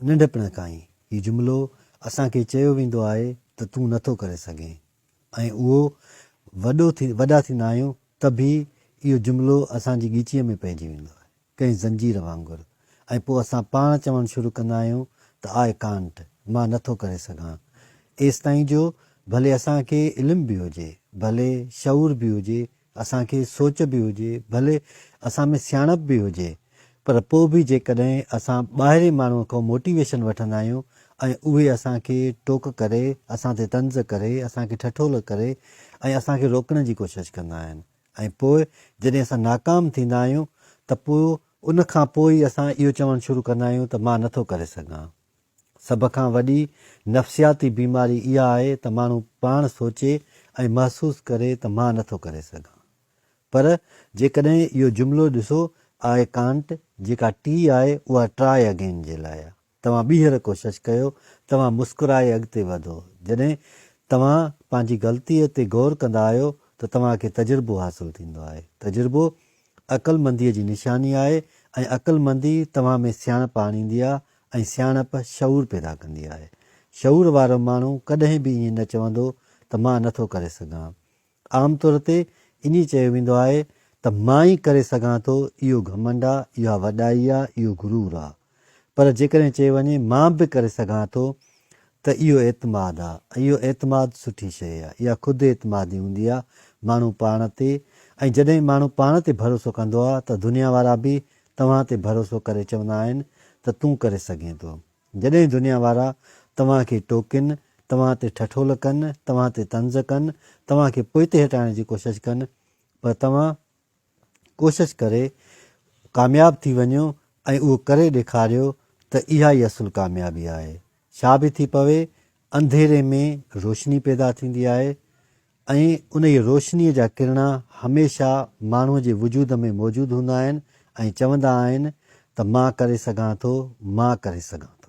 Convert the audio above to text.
ننڍپڻ کان ئي هي جملو اسان کي چيو ويندو آهي ته تون نٿو ڪري سگهين ۽ اهو وڏو ٿي وڏا ٿيندا آهيون ته به اهو جملو اسان جي ڳچيء ۾ پئجي ويندو آهي ڪنهن زنجير وانگر ۽ پوء اسان پاڻ چوڻ شروع ڪندا آهيون ته آء ڪانٽ مان نٿو ڪري سگهان ايستائين جو ڀلي اسان کي علم به هجي ڀلي شعور به هجي اسان کي سوچ به هجي، ڀلي اسان ۾ سياڻپ به هجي، پر پوء به جيڪڏهن اسان ٻاهرين ماڻهوء کان موٽيويشن وٺندا آهيون ۽ اهي اسان کي ٽوڪ ڪري، اسان تي طنز ڪري، اسان کي ٺٺول ڪري ۽ اسان کي روڪڻ جي ڪوشش ڪندا آهن ۽ پوء جڏهن اسان ناڪام ٿيندا آهيون ته پوء ان کان پوء ئي اسان اهو چوڻ شروع ڪندا آهيون ته مان نٿو ڪري سگهان. سڀ کان وڏي نفسياتي بيماري اها آهي ته ماڻهو پاڻ سوچي ۽ محسوس ڪري ته مان نٿو ڪري سگهان. پر جيڪڏهن اهو جملو ڏسو آء ڪانٽ جيڪا ٽي آهي اها ٽرائي اگين جي لاء آهي. توهان ٻيهر ڪوشش ڪيو، توهان مسڪرائي اڳتي وڌو. جڏهن توهان پنهنجي غلطيء تي غور ڪندا آهيو ته توهان کي تجربو حاصل ٿيندو آهي. تجربو عقلمنديء جي نشاني آهي ۽ عقلمندي توهان ۾ سياڻپ آڻيندي آهي ۽ سياڻپ شعور پيدا ڪندي آهي. شعور وارو ماڻهو ڪڏهن به ائين نه چوندو ته مان نه ٿو ڪري سگهان. عام طور تي ائين چيو ويندو آهي ته مان ئي ڪري سگهان ٿو، اهو گهمنڊ آ، اها وڏائي آ، اهو غرور آ. پر جيڪڏهن چيو وڃي مان به ڪري سگهان ٿو ته اهو اعتماد آ ۽ اهو اعتماد سٺي شيء آ. اها خود اعتمادي هوندي آ ماڻهو پاڻ تي ۽ جڏهن ماڻهو پاڻ تي ڀروسو ڪندو آ ته دنيا وارا به توهان تي ڀروسو ڪري چوندا آهن ته تون ڪري سگهين ٿو. جڏهن دنيا وارا توهان کي ٽوڪين، توهان تي ٺٺول ڪن، توهان تي طنز ڪن، توهان کي پوئتي هٽائڻ جي ڪوشش ڪن پر توهان ڪوشش ڪري ڪامياب ٿي وڃو ۽ اهو ڪري ڏيکاريو ته اها ئي اصل ڪاميابي آهي. ڇا به ٿي پوي، انڌيري ۾ روشني پيدا ٿيندي آهي. ۽ انهيء روشنيء جا ڪرڻا هميشه ماڻهوء جي وجود ۾ موجود هوندا آهن ۽ چوندا آهن ته مان ڪري سگهان ٿو، مان ڪري سگهان ٿو.